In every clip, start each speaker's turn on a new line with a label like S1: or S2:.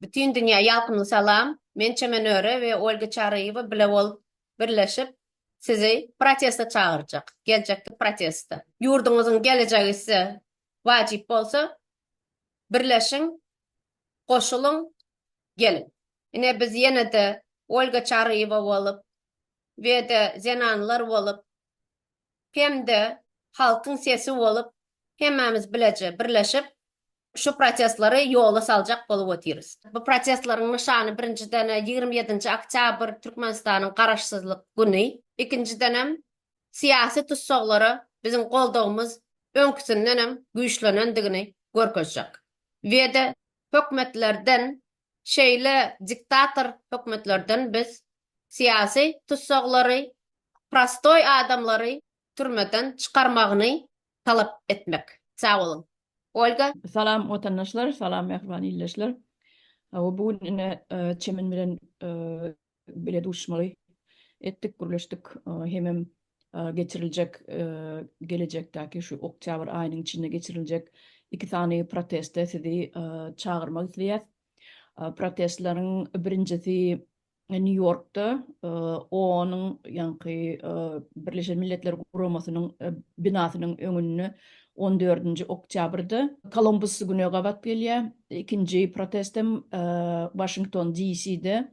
S1: Bütin dünýä ýakymly salam. Men Çemenöre we Olga Çaryýewa bile bolup, birleşip sizi protesta çagyrjak. Geljekki protesta. Ýurduňyzyň gelejegi size wajyp bolsa, birleşiň, goşulyň, geliň. Ine biz ýene-de Olga Çaryýewa bolup, we-de zenanlar bolup, hem-de halkyň sesi bolup, hemmämiz bileje birleşip, şu protestleri ýola saljak bolup otyrys. Bu protestleriň nyşany, birinjiden, ýigrimi ýedinji oktýabr, Türkmenistanyň Garaşsyzlyk güni. Ikinjidenem, syýasy tussaglara biziň goldawymyz öňküsindenem güýçlenendigini görkezjek we-de hökümetlerden Şeýle diktator hökümetlerden biz syýasy tussaglary, prostoý adamlary türmeden çykarmagyny talap etmek. Sag boluň. Olga. Salam watandaşlar,
S2: salam mähriban ildeşler. Hawa bu gün ine Çemen bilen bile duşmaly etdik, gürleşdik. Hemem geçiriljek gelejekdäki şu oktýabr aýynyň içinde geçiriljek iki sany proteste sizi çagyrmak isleýäs. Protestleriň birinjisi Nýu-Ýorkda OON-yň, ýaňky Birleşen Milletler Guramasynyň binasynyň öňünde on dördünji oktýabrda. Kolumbus güne gabat gelýär. Ikinji protest hem Waşington, DC-de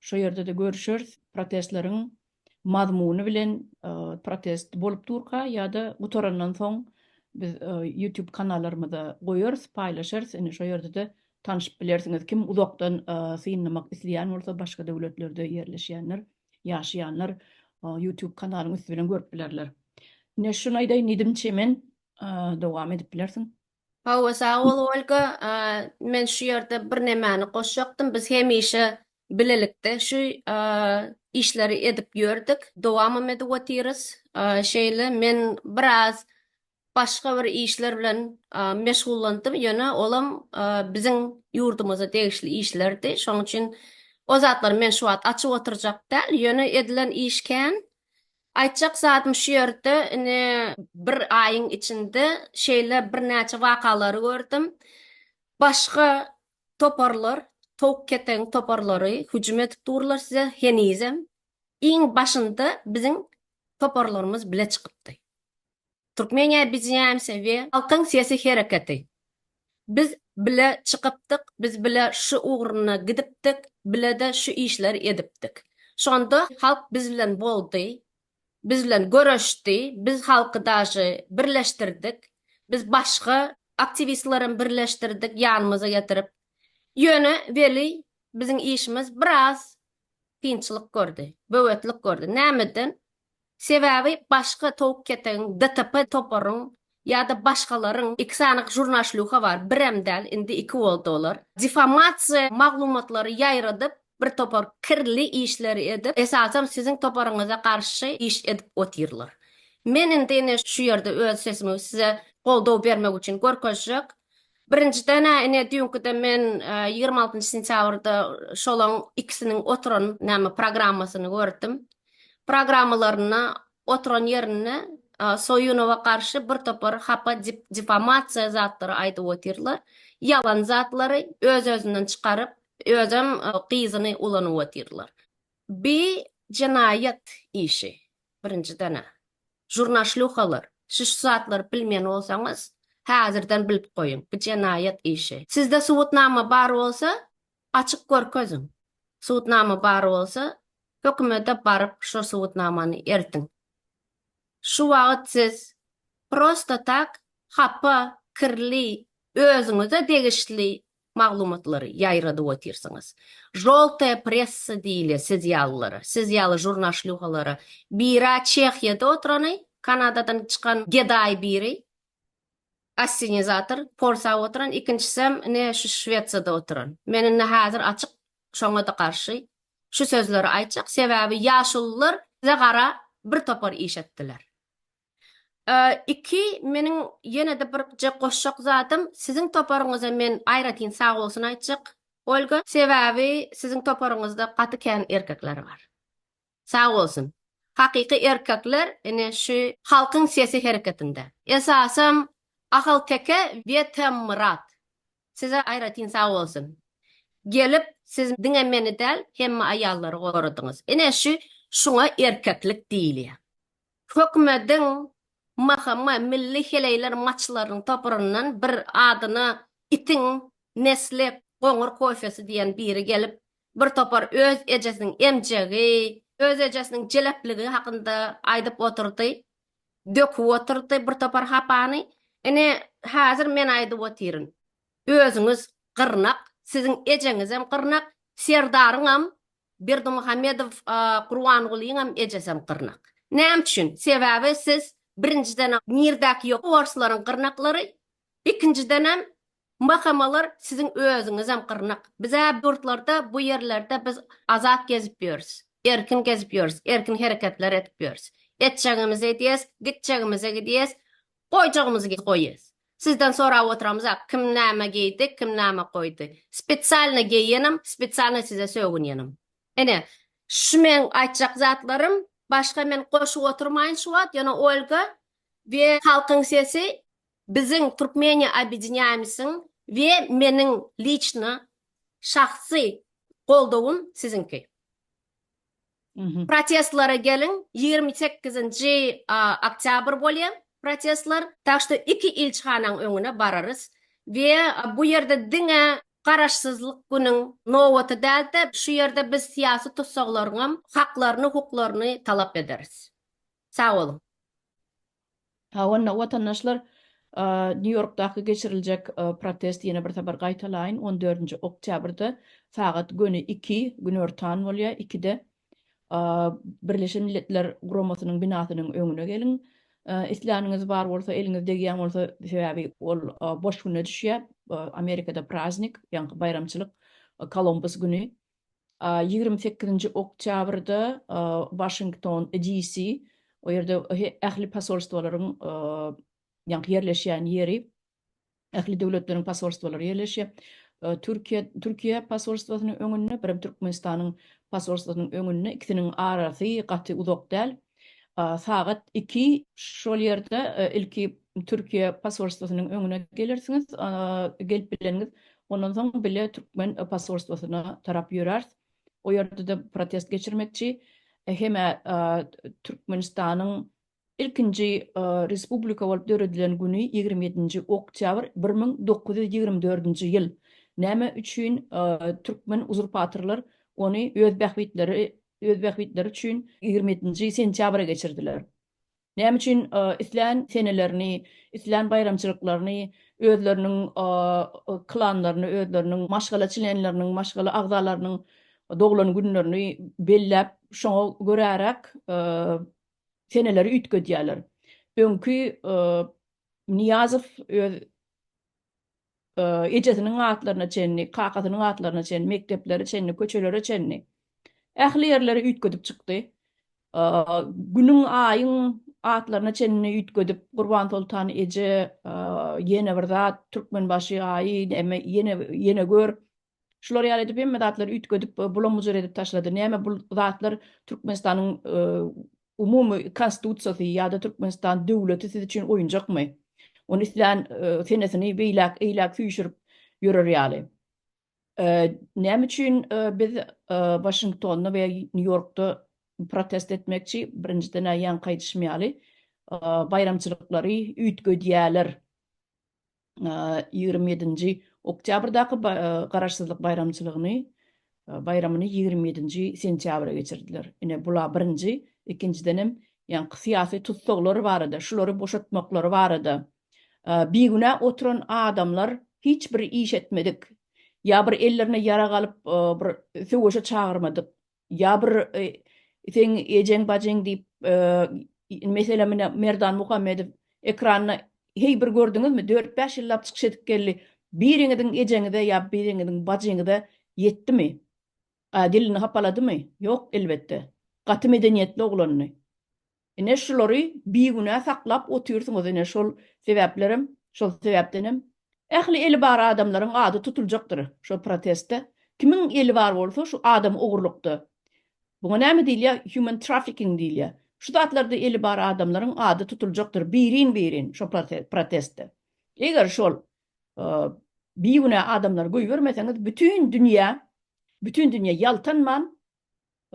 S2: Şo ýerde-de görüşeris. Protestleriň mazmuny bilen protest bolup durka ýa-da gutarandan soň biz YouTube kanallarymyza goýarys, paýlaşarys. Indi şo ýerde-de tanşyp bilersiňiz. Kim uzakdan synlamak isleýän bolsa, başga döwletlerde ýerleşýänler, ýaşaýanlar YouTube kanalyň üsti bilen görüp bilerler. Ine şuny aýdaýyn diýdim, Çemen dowam edip bilersiň. Hawa, sag
S1: bol, Olga. Men şu ýerde birnämäni goşjakdym. Biz hemişe bilelikde şu işleri edip ýördük, dowamam edip otyrys. Şeýle, men biraz başga bir işler bilen meşgullandym, ýöne olam biziň ýurdumyza degişli işlerdi. Şonuň üçin o zatlary men şu wagt açyp oturjak däl, ýöne edilen iş kän. Aýtjak zadym şu ýerde, indi bir aýyň içinde şeýle birnäçe wakalary gördüm. Başga toparlar, towuk-ketegiň toparlary hüjüm edip durlar size henizem. Iň başynda biziň toparlarymyz bile çykypdy. Türkmen Ebidjämsi we Halkyň sesi hereketi. Biz bile çykypdyk, biz bile şu ugruna gidipdik, bile-de şu işleri edipdik. Şonda halk biz bilen boldy, biz bilen göreşdi, biz halky daşy birleşdirdik, biz başga aktiwistlerem birleşdirdik ýanymyza getirip. Ýöne weli biziň işimiz biraz kynçylyk gördi, böwetlik gördi. Nämeden? Sebäbi başga towuk ketegiň DTP toparyň ýa-da başgalaryň iki sany žurnaşlýuha bar, birem däl, indi iki boldy olar. Difamasiýa maglumatlary ýaýradyp, bir topar kirli işleri edip, esasam siziň toparyňyza garşy iş edip otyrlar. Men indi ine şu ýerde öz sesimi size goldaw bermek üçin görkezjek. Birinjiden-ä ine düýnküde men ýigrimi altynjy sentýabrda şolaň ikisiniň oturan näme programmasyny gördüm. programmalarynda oturan ýerinde Soýunowa garşy bir topar hapa difamasiýa zatlary aýdyp otyrlar. Ýalan zatlary öz-özünden çykaryp, özem gyzyny ulanyp otyrlar. Bi jenaýat işi birinjidena. Žurnaşluhalar, siz şu zatlary bilmeýän bolsaňyz, häzirden bilip goýuň, bi jenaýat işi. Sizde subutnama bar bolsa, Açyp görkeziň. Subutnama bar bolsa, hökümete baryp şo subutnamany eltiň. Şu wagyt siz prosta tak hapa, kirli, özüňize degişli maglumatlary ýaýradyp otyrsyňyz. Žoltaýa pressa diýilýär siz ýalylara, siz ýaly žurnaşlýuhalara. Bira Çehiýada oturany, Kanadadan çykan gedaý biri, Assenizator porsap oturan ikinçisem ine şu şwetsada oturan. Men indi hazir açyk şoňada garşy şu sözleri aýtjak sebäbi ýaşulular bize gara bir topar iş etdiler. Iki meniň ýenede birje goşjak zadym siziň toparyňyza men aýratyn sagbolsun aýtjak Olga sebäbi siziň toparyňyzda gaty kän erkekler bar. Sag bolsun. Hakyky erkekler ine şu Halkyň sesi hereketinde. Esasam Ahalteke we Temmyrat. Size aýratyn sag bolsun. Gelip siz diňe meni däl hemme aýallary goradyňyz. Ine şu şuňa erkeklik diýilýär. Hökümediň MHM milli heleýler maçlarynyň toparyndan bir adyna itiň nesli goňur kofesi diýen biri gelip Bir topar öz ejesiniň emjegi, öz ejesiniň jelepligi hakynda aýdyp otyrdy. Döküp otyrdy bir topar hapany. Ine, häzir men aýdyp otyryn. Özüňiz gyrnak, siziň ejeňizem gyrnak, Serdaryňam, Berdimuhamedow Gurbangulynyňam ejesem gyrnak. Näme üçin? Sebäbi siz birinjiden nirdäki ýok orslaryň gyrnaklary, Ikinjidenem, mhamalar siziň özüňizem gyrnak. Biz-ä ýurtlarda, bu ýerlerde biz azat gezip ýörüs. Erkin gezip ýörüs, erkin hereketler edip ýörüs. Etjegimizi edýäs, gitjegimize gidýäs, goýjagymyzy goýýas. Sizden sorap oturamyza, kim näme geýdi, kim näme goýdy. Spesialno geýenem, spesialno size sögünýenem. Ine, şu meň aýtjak zatlarym. Başga men goşup oturmaýyn şu wagt, ýöne Olga we Halkyň sesi Biziň Türkmeniýa Obýedinýaýmysyň we meniň liçno, şahsy, goldawym siziňki. Protestlara geliň, ýigrimi sekizinji oktýabr bolýa protestlar, tak şto iki ilçihanaň öňüne bararys we bu ýerde diňe Garaşsyzlyk günüň nobaty däl-de, şu ýerde biz syýasy tussaglaryňam haklaryny, hukuklaryny talap ederis. Sag boluň.
S2: Ha onda watandaşlar Nýu Ýorkdaky geçiriljek protest ýene bir sapar gaýtalaýyn on dördünji oktýabrda sagat göni iki, günortan bolýar ikide Birleşen Milletler Guramasynyň binasynyň öňüne geliň. Isläniňiz bar bolsa eliňiz degýän bolsa sebäbi ol boş güne düşýär Amerikada praznik ýaňky baýramçylyk Kolumbus güni ýigrimi sekizinji oktýabrda Waşington, DC, o ýerde ähli posolstwalaryň ýaňky ýerleşýän ýeri, ähli döwletleriň posolstwalary ýerleşýär. Türkiýe, Türkiýe posolstwasynyň öňünde, birem Türkmenistanyň posolstwasynyň öňünde, ikisiniň arasy gaty uzak däl. Sagat iki. Şol ýerde ilki Türkiýe posolstwosynyň öňüne gelersiňiz. Gelip bileniňiz, ondan soň bile türkmen posolstwosyna tarap ýöräris. O ýerde-de protest geçirmekçi. Hem-ä Türkmenistanyň ilkinji respublika bolup döredilen güni ýigrimi ýedinji oktýabr bir müň dokuz ýüz ýigrimi dördünji ýyl. Näme üçin türkmen uzurpatorlar ony öz bähbitleri öz bähbitleri üçin ýigrimi ýedinji sentýabra geçirdiler. Näme üçin islän senelerini, islän baýramçylyklaryny özleriniň klanlaryny, özleriniň maşgala çlenleriniň, maşgala agzalarynyň doglan günlerini belläp, şoňa göräräk seneleri üýtgedýärler? Öňki Nyýazow öz ejesiniň atlaryna çenli, kakasynyň atlaryna çenli, mekdeplere çenli, köçelere çenli ähli ýerleri üýtgedip çykdy. Günüň, aýyň atlaryna çenli üýtgedip, Gurbansoltan eje ýene bir zat, Türkmenbaşy aýy, ýene, ýene gör, Şular ýaly edip hemme zatlary üýtgedip bulam-bujar edip taşlady. Näme bul zatlar Türkmenistanyň umumy konstitusiýasy ýa-da Türkmenistan döwleti siz üçin oýunjakmy? Ony islän senesini beýläk, eýläk süýşürip ýörer ýaly. Näme üçin biz Waşingtonda we Nýu-Ýorkda protest etmekçi? Birinjiden-ä ýaňky aýdyşym ýaly baýramçylyklary üýtgedýäler. ýigrimi ýedinji oktýabrdaky Garaşsyzlyk baýramçylygyny baýramyny ýigrimi ýedinji sentýabra geçirdiler. Ine, bula birinji, ikinjidenem ýaňky syýasy tussaglar barada, şulary boşatmaklary barada bigünä oturan adamlar hiç bir iş etmedik, ýa bir ellerine ýarag alyp bir söweşe çagyrmadyk Ýa bir seň ejeň bajyň diýip meselem mine Merdan Muhammedow ekranda heý bir gördüňizmi dört bäş ýyllap çykyş edip geldi biriňiziň ejeňize ýa biriňiziň bajyňyza ýetdimi dilini hapaladymy ýok elbetde gaty medeniýetli oglandy. Ine şulary bigünä saklap otyrsyňyz ine şol sebäplerem şol sebäpdenem ähli eli bar adamlaryň ady tutuljakdyr şo protestde kimiň eli bar bolsa şu adam ogurlykda buňa näme diýilýä human trafficking diýilýä şu zatlarda eli bar adamlaryň ady tutuljakdyr birin birin şo protestde eger şol bigünä adamlary goýbermeseňiz bütin dünýä bütin dünýä ýaltanman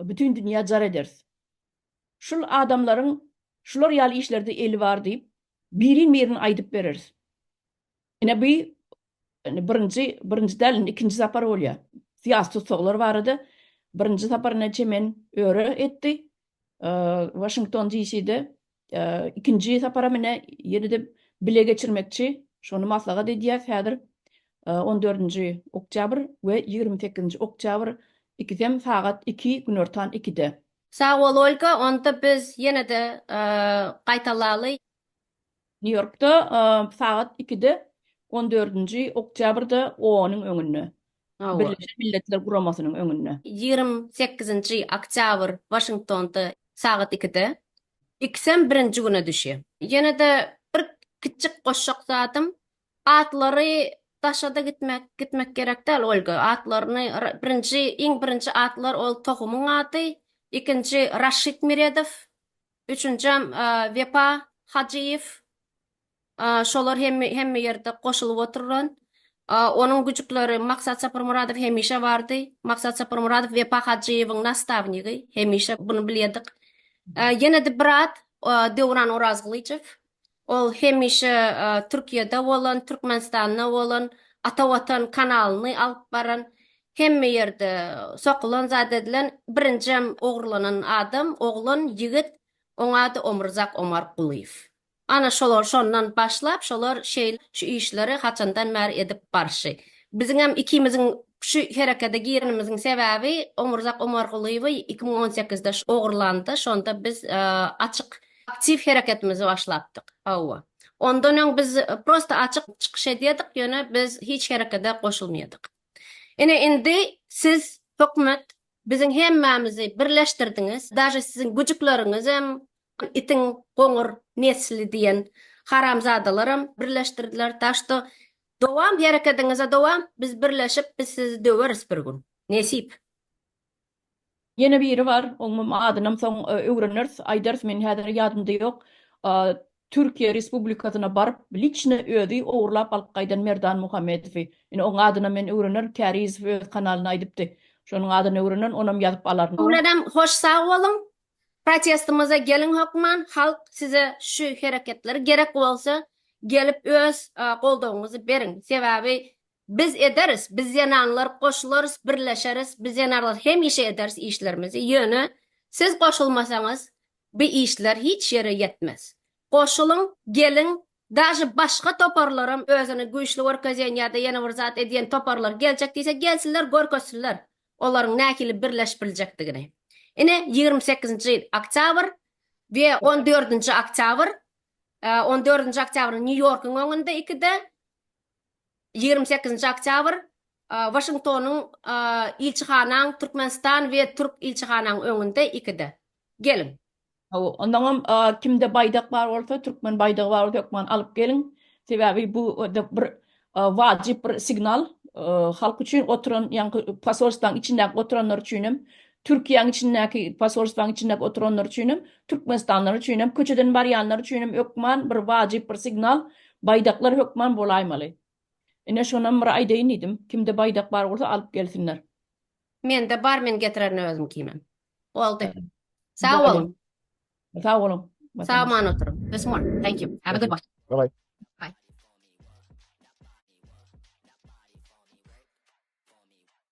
S2: bütin dünýä jar ederis. Şul adamlaryň şular ýaly işlerde eli bar diýip, birin-birin aýdyp bereris. Ine bu indi birinji, birinji däl indi ikinji sapar bolýar. Syýasy tussaglar barada birinji sapar ine Çemen öre etdi, Waşington DCde, ikinji saparam ine ýene-de bile geçirmekçi, şony maslahat edýäs häzir. On dördünji oktýabr we ýigrimi sekizinji oktýabr ikisem sagat iki, günortan ikide. Sag bol Olga,
S1: onda biz ýene-de gaýtalaly.
S2: New Yorkda sagat ikide on dördünji oktýabrda OONyň öňünde, Birleşen Milletler Guramasynyň öňünde. Ýigrimi sekizinji
S1: oktýabr Waşingtonda sagat ikide. Ikisem birinji güne düşýä. Ýene-de bir kiçjik goşjak zadym, Atlary daşada gitmek gitmek gerek däl Olga atlaryny birinji iň birinji atlar ol tohumyň ady ikinji Raşid Miredow üçünjem Wepa Hajyýew şolar hemme hemme ýerde goşulyp oturan onuň güjükleri Maksat Saparmyradow hemişe bardy Maksat Saparmyradow Wepa Hajyýewiň nastawnygy hemişe bunu bilýedik ýenede bir at Döwran Orazgylyjow Ol hemişe Türkiýede bolan, Türkmenistanda bolan, Ata Watan kanalyny alyp baran, hemme ýerde sokulan zat edilen, birinjem ogurlanan adam, oglan, ýigit, oň ady Omurzak Omarkulyýew. Ana şolar şondan başlap, şolar şeýle şu işleri haçandan bäri edip barşy. Biziňem ikimiziň şu herekede girenimiziň sebäbi Omurzak Omarkulyýewi iki müň on sekizde ogurlandy, şonda biz açyk Aktiw hereketimizi başlapdyk. Hawa. Ondan öň biz prosta açyk çykyş edýärdik, ýöne biz hiç herekede goşulmaýardyk. Ine indi siz, hökümet, biziň hemmämizi birleşdirdiňiz, daže siziň güjükleriňizem, itiň goňur nesli diýen haramzadalaram birleşdirdiler. Tak şto, dowam herekediňize dowam, biz birleşip, biz sizi döweris bir gün. Nesip.
S2: Ýene biri bar, oňam adynam soň öwreneris, aýdarys, meniň häzir ýadymda ýok. Türkiýe Respublikasyna baryp, liçno özi ogurlap alyp gaýdan Merdan Muhammedowy. Ine, oň adynam men öwrenerin, Kärizow öz kanalynda aýdypdy. Şonuň adyny öwrenerin, onam ýazyp alaryn. Öwrenem, hoş sag
S1: boluň. Protestimize geliň hökman, halk size şu hereketleri gerek bolsa gelip öz goldawyňyzy beriň. Sebäbi Biz ederis, biz zenanlar goşularys, birleşeris, biz zenanlar hemişe ederis işlerimizi, ýöne siz goşulmasaňyz bi işler hiç ýere ýetmez. Goşulyň, geliň, daže başga toparlaram özüni güýçli görkezýän ýa-da ýene bir zat edýän toparlar geljek diýse gelsinler görkezsinler olaryň nähili birleşip biljekdigini. Ine ýigrimi sekizinji oktýabr we on dördünji oktýabr, on dördünji oktýabr Nýu-Ýorkuň öňünde ikide, Ýigrimi sekizinji oktýabr, Waşingtonyň ilçihanaň Türkmenistan we türk ilçihanaň öňünde ikide. Geliň. Hawa, ondaňam
S2: kimde baýdak bar bolsa, türkmen baýdagy bar bolsa hökman alyp geliň. Sebäbi bu bir wajyp bir signal. Halk üçin oturan, ýaňky posolstwaň içindäki oturanlar üçin hem Türkiýäň içindäki, posolstwaň içindäki oturanlar üçinem, türkmenistanlylar üçinem, köçeden barýanlar üçinem hökman bir wajyp bir signal, baýdaklar hökman bolaýmaly. Ine şonam bir aýdaýyn diýdim. Kimde baýdak bar bolsa alyp gelsinler. Mende
S1: bar men getirerin özümkimem. Boldy. Sag boluň. Sag boluň. Sag aman oturyň. Bismol. Thank
S2: you.
S1: Have a good one. Bye bye.